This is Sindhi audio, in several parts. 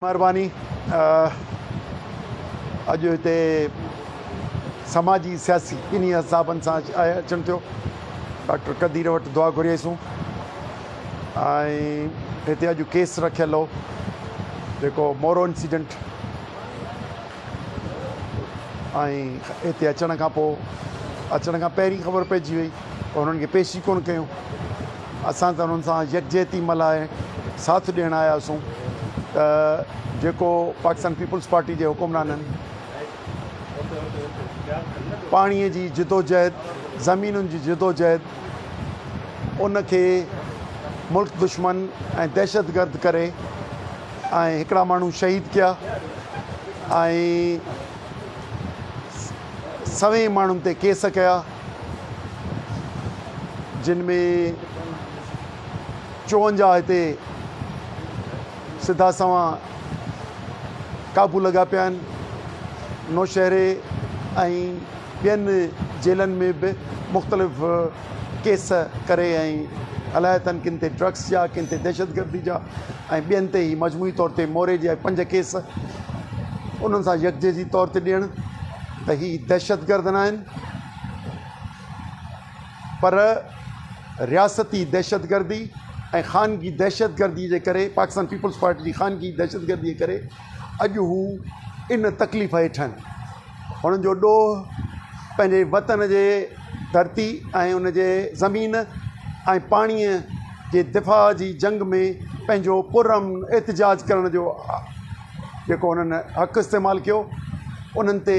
مھرباني اڄ ھتي سماجي سياسي ٻنھي حسابن سان اچڻ ٿيو ڊاڪٽر قدير وٽ دعا گھريائيسون ۽ ھتي اڄ ڪيس رکيل ھو جيڪو مورو انسيڊنٽ ۽ ھتي اچڻ کان پوء اچڻ کان پهرين خبر پئجي وئي پر انهن کي پيش ئي ڪونه ڪيون. اسان ته انهن سان يڪجهتي ملهائي ساٿ ڏيڻ آيا هئاسون ته جيڪو پاڪستان پيپلز پارٽي جي حڪمرانن پاڻي جي جدوجهد، زمينن جي جدوجهد ان کي ملڪ دشمن ۽ دهشتگرد ڪري ۽ هڪڙا ماڻهو شهيد ڪيا ۽ سوين ماڻهن تي ڪيس ڪيا. جن ۾ چون جا هتي سڌا سنوان قابو لڳا پيا آهن نوشهري ۽ ٻين جيلن ۾ به مختلف ڪيس ڪري ۽ الاء تن ڪن تي ڊرگس جا ڪن تي دهشتگردي جا ۽ ٻين تي هي مجموعي طور تي موري جي پنج ڪيس انهن سان يڪجهي جي طور تي ڏيڻ ته هي دهشتگرد ناهن پر رياستي دهشتگردي ۽ خانگي دهشتگردي جي ڪري پاڪستان پيپلز پارٽي جي خانگي دهشتگردي جي ڪري اڄ هو ان تڪليف هيٺ آهن هنن جو ڏوهه پنهنجي وطن جي ڌرتي ۽ ان جي زمين ۽ پاڻي جي دفاع جي جنگ ۾ پنهنجو پر امن احتجاج ڪرڻ جو جيڪو هنن حق استعمال ڪيو انهن تي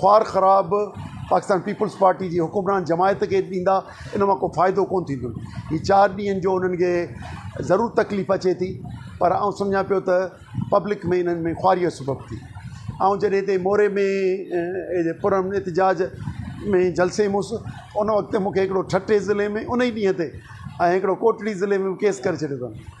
خوار خراب پاڪستان پيپلز پارٽي جي حڪمران جماعت کي ڏيندا ان مان ڪو ڦائدو ڪون ٿيندو هي چار ڏينهن جو انهن کي ضرور تڪليف اچي ٿي پر آئون سمجهان پيو ته پبلڪ ۾ انهن ۾ خواري جو سبب ٿي آئون جڏهن تي موري ۾ پر امن احتجاج ۾ جلسي مس ان وقت مونکي هڪڙو ٺٽي ضلعي ۾ ان ڏينهن تي ۽ هڪڙو ڪوٽڙي ضلعي ۾ ڪيس ڪري ڇڏيو اٿن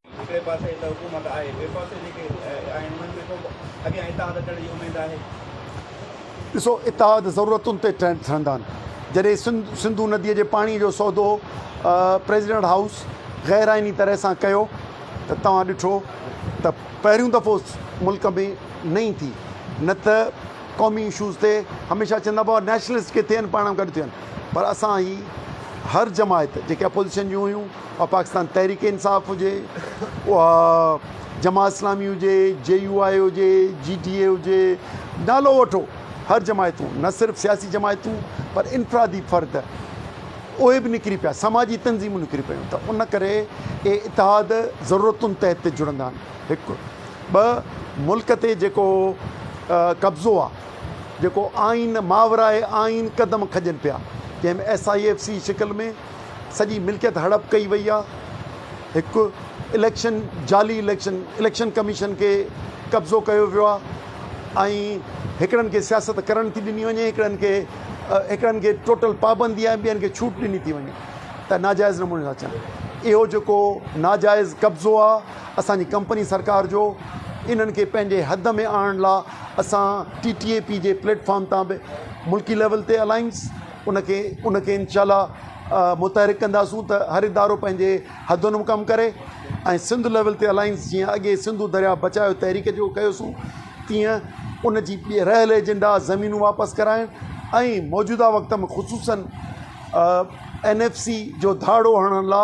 هڪڙي پاسي ته حڪومت آهي ٻئي پاسي جيڪي آهن انهن ۾ ڪو اڳيان اتحاد اچڻ جي اميد آهي؟ ڏسو اتحاد ضرورتن تي ٺهندا آهن جڏهن سنڌو ندي جي پاڻي جو سودو پريزيڊنٽ هائوس غير آئيني طرح سان ڪيو ته توهان ڏٺو ته پهريون دفعو ملڪ ۾ نئين ٿي نه ته قومي اشوز تي هميشه چوندا بابا نيشنلسٽ ڪٿي آهن پاڻ گڏ ٿين پر اسان هي هر جماعت جيڪي اپوزيشن جون هيون اها پاڪستان تحريڪ انصاف هجي، اها جماعت اسلامي هجي، جي يو آء هجي، جي ڊي اي هجي، نالو وٺو هر جماعتون نه صرف سياسي جماعتون پر انفرادي فرد اهي به نڪري پيا سماجي تنظيمون نڪري پيون ته ان ڪري اهي اتحاد ضرورتن تحت جڙندا آهن هڪ ٻه ملڪ تي جيڪو قبضو آهي جيڪو آئين ماورائي آئين قدم کڄن پيا جنهن ۾ ايس آء ايف سي شڪل ۾ سڄي ملڪيت هڙپ ڪئي وئي آ هڪ اليڪشن جعلي اليڪشن اليڪشن ڪميشن کي قبضو ڪيو ويو آ ۽ هڪڙن کي سياست ڪرڻ ٿي ڏني وڃي هڪڙن کي هڪڙن کي ٽوٽل پابندي آ ٻين کي ڇوٽ ڏني ٿي وڃي ته ناجائز نموني ٿا اچن اهو جيڪو ناجائز قبضو آ اسان جي ڪمپني سرڪار جو انهن کي پنهنجي حد ۾ آڻڻ لا اسان ٽي ٽي اي پي جي پليٽ فارم تان به ملڪي ليول تي الائنس ان کي ان کي انشاء الله متحرڪ ڪنداسون ته هر ادارو پنهنجي حدن ۾ ڪم ڪري ۽ سنڌ ليول تي الائنس جيئن اڳي سنڌو درياء بچايو تحريڪ جو ڪيوسون تيئن ان جي رهيل ايجنڊا زمينون واپس ڪرائڻ ۽ موجوده وقت ۾ خصوصن اين ايف سي جو ڌاڙو هڻڻ لا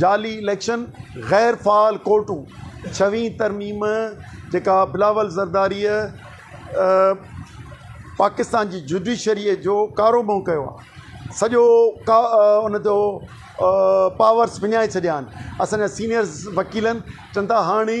جعلي اليڪشن، غير فعال ڪورٽون، ڇهوين ترميم جيڪا بلاول زرداريء پاڪستان جي جڊيشريء جو ڪارو منهن ڪيو آهي، سڄو ان جو پاورس وڃائي ڇڏيا آهن، اسان جا سينيئر وڪيلن چون ٿا هاڻي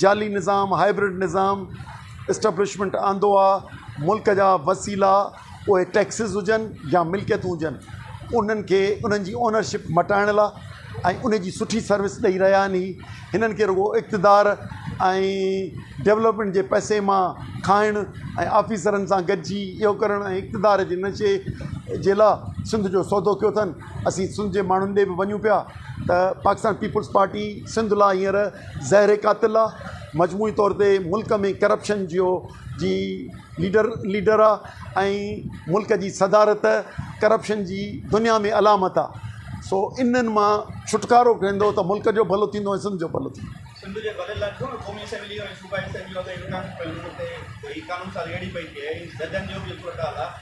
جعلي نظام، هائبرڊ نظام، اسٽبلشمينٽ آندو آ، ملڪ جا وسيلا اهي ٽيڪسز هجن يا ملڪيتون هجن انهن کي انهن جي اونرشپ مٽائڻ لا۽ انهي جي سٺي سروس ڏئي رهيا آهن هي هنن کي رڳو اقتدار ۽ ڊولپمينٽ جي پئسي مان کائڻ ۽ آفيسرن سان گڏجي اهو ڪرڻ ۽ اقتدار جي نشي جي لا سنڌ جو سودو ڪيو اٿن. اسين سنڌ جي ماڻهن ڏي به وڃون پيا ته پاڪستان پيپلز پارٽي سنڌ لاء هينئر زهر قاتل آ مجموعي طور تي ملڪ ۾ ڪرپشن جيو جي ليڊر ليڊر آ ۽ ملڪ جي صدارت ڪرپشن جي دنيا ۾ علامت آ سو انهن مان ڇوٽڪارو ڪندو ته ملڪ جو ڀلو ٿيندو ۽ سنڌ جو ڀلو ٿيندو. سنڌ جي ڀلي لاء ٿيو نه قومي اسيمبلي ۽ صوبائي اسيمبليون تي ايوان پيو لڳو تي هي قانون سازي اهڙي پئي ٿئي هي ججن جو به هڪڙو ٽال آ.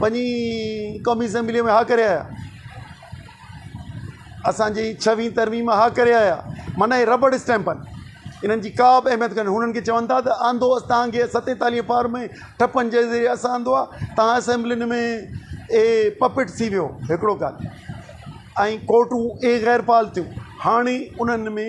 وڃي قومي اسيمبليء ۾ ها ڪري آيا. اسان جي ڇوهين ترميم ۾ ها ڪري آيا. معنيٰ هي ربڙ اسٽيمپ آهن. انهن جي ڪا به اهميت ڪانهي. هنن کي چون ٿا ته آندو اسان توهان کي ستيتاليهين پار ۾ ٺپن جي ذريعي اسان آندو آهي. توهان اسيمبلين ۾ اهي پپٽس ٿي ويو هڪڙو ڪال ۽ ڪورٽون اهي غير فعال ٿيون. هاڻي انهن ۾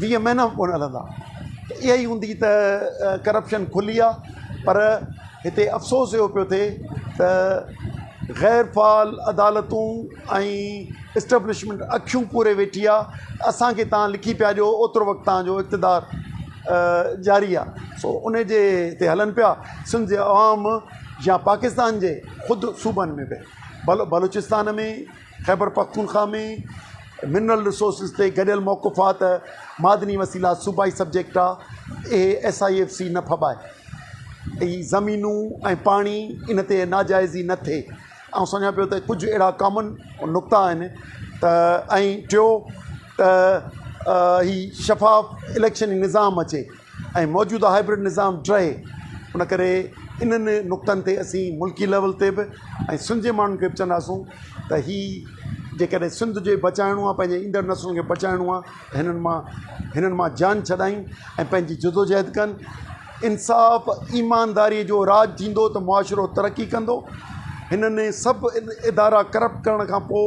ويهه مهينا به ڪونه هلندا ته اها ئي هوندي ته ڪرپشن کلي آهي پر هتي افسوس اهو پيو ٿئي ته غير فعال عدالتون ۽ اسٽبلشمينٽ اکيون پوري ويٺي آهي اسان کي تان لکي پيا ڏيو اوترو وقت تان جو اقتدار جاري آهي سو ان جي تي هلن پيا سنڌ جي عوام يا پاڪستان جي خود صوبن ۾ به بلوچستان ۾ خيبر پختونخوا ۾ منرل رسورسز تي گڏيل موقف آ ته معدني وسيلا صوبائي سبجيڪٽ آ اهي ايس آء ايف سي نه ڦٻائي اي زمينون ۽ پاڻي ان تي ناجائزي نه ٿئي آئون سمجهان پيو ته ڪجهه اهڙا ڪامن نقطا آهن ته ۽ ٽيو ته هي شفاف اليڪشن نظام اچي ۽ موجوده هائبرڊ نظام ڊهي ان ڪري انهن نقطن تي اسين ملڪي ليول تي به ۽ سنڌ جي ماڻهن کي به چونداسون ته هي جيڪڏهن سنڌ جي بچائڻو آهي پنهنجي ايندڙ نسلن کي بچائڻو آهي ته هنن مان هنن مان جان ڇڏائين ۽ پنهنجي جدوجهد ڪن انصاف ايمانداري جو راج ٿيندو ته معاشرو ترقي ڪندو هنن سڀ ادارا ڪرپٽ ڪرڻ کان پوء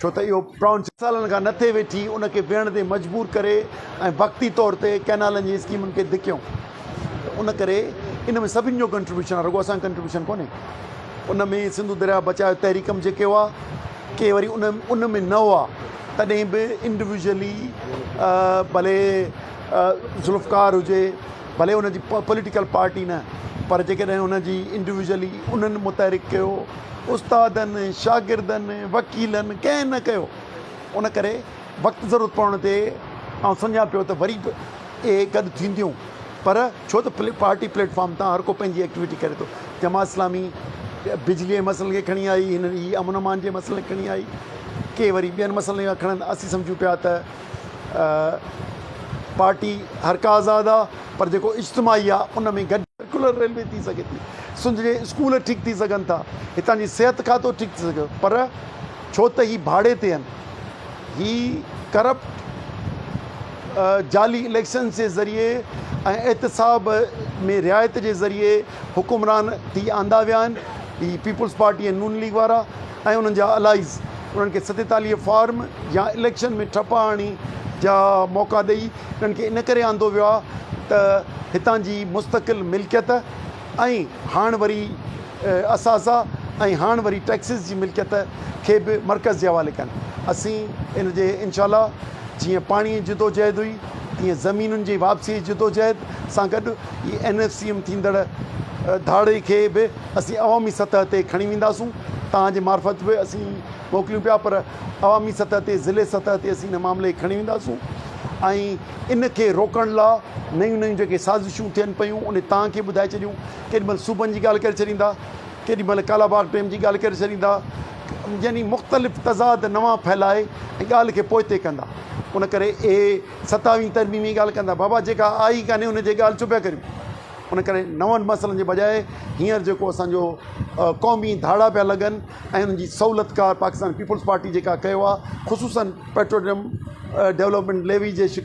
ڇو ته اهو پرونس سالن کان نه ٿي ويٺي ان کي ويهڻ تي مجبور ڪري ۽ وقتي طور تي ڪئنالن جي اسڪيمن کي ڌڪيون ته ان ڪري ان ۾ سڀني جو ڪنٽريبيوشن آهي رڳو اسان ڪنٽريبيوشن ڪونهي ان ۾ سنڌو درياء بچايو تحريڪ ۾ جيڪي هئا ڪي وري ان ان ۾ نه هئا تڏهن به انڊيويجولي ڀلي ذوالفقار هجي ڀلي ان جي پوليٽيڪل پارٽي نه پر جيڪڏهن ان جي انڊيويجولي انهن متحرڪ ڪيو استادن، شاگردن، وڪيلن ڪنهن نه ڪيو. ان ڪري وقت ضرورت پوڻ تي آئون سمجهان پيو ته وري به اهي گڏ ٿينديون پر ڇو ته پارٽي پليٽ فارم تان هر ڪو پنهنجي ايڪٽيوٽي ڪري ٿو. جماعت اسلامي بجلي جي مسئلن کي کڻي آئي، هنن هي امن امان جي مسئلن کي کڻي آئي، ڪي وري ٻين مسئلن کي کڻن، اسين سمجهون پيا ته. پارٽي هر ڪا آزاد آ پر جيڪو اجتماعي آ ان ۾ گڏ سرڪولر ريلوي ٿي سگهي ٿي سنڌ جي اسڪول ٺيڪ ٿي سگهن ٿا هتان جي صحت کاتو ٺيڪ ٿي سگهي پر ڇو ته هي ڀاڙي تي آهن هي ڪرپٽ جعلي اليڪشنز جي ذريعي ۽ احتساب ۾ رعايت جي ذريعي حڪمران ٿي آندا ويا آهن هي پيپلز پارٽي ۽ نون ليگ وارا ۽ انهن جا الائيز انهن کي ستيتاليهه فارم يا اليڪشن ۾ ٺپ آڻي جا موقعا ڏئي انهن کي ان ڪري آندو ويو آهي ته هتان جي مستقل ملڪيت ۽ هاڻ وري اثاثا ۽ هاڻ وري ٽيڪسز جي ملڪيت کي به مرڪز جي حوالي ڪن اسين ان جي انشاءالله جيئن پاڻي جي جدوجهد هئي تيئن زمينن جي واپسي جي جدوجهد سان گڏ هي اين ايف سي ايم ٿيندڙ ڌاڙي کي به اسين عوامي سطح تي کڻي وينداسون توهان جي معرفت به اسين موڪليون پيا پر عوامي سطح تي ضلعي سطح تي اسين هن معاملي کي کڻي وينداسون ۽ ان کي روڪڻ لا نيون نيون جيڪي سازشون ٿين پيون انهي توهان کي ٻڌائي ڇڏيون ڪيڏي مهل صوبن جي ڳالهه ڪري ڇڏيندا ڪيڏي مهل ڪالا باغ ڊيم جي ڳالهه ڪري ڇڏيندا يعني مختلف تضاد نوان ڦهلائي ۽ ڳالهه کي پوئتي ڪندا ان ڪري اهي ستاويهين ترميم جي ڳالهه ڪندا بابا جيڪا آئي ڪانهي ان جي ڳالهه ڇو پيا ڪريون ان ڪري نون مسئلن جي بجاء هينئر جيڪو اسانجو قومي ڌاڙا پيا لڳن ۽ انهن جي سهولت ڪار پاڪستان پيپلز پارٽي جيڪا ڪيو آهي خصوصن پيٽروليم ڊولپمينٽ ليوي جي شڪ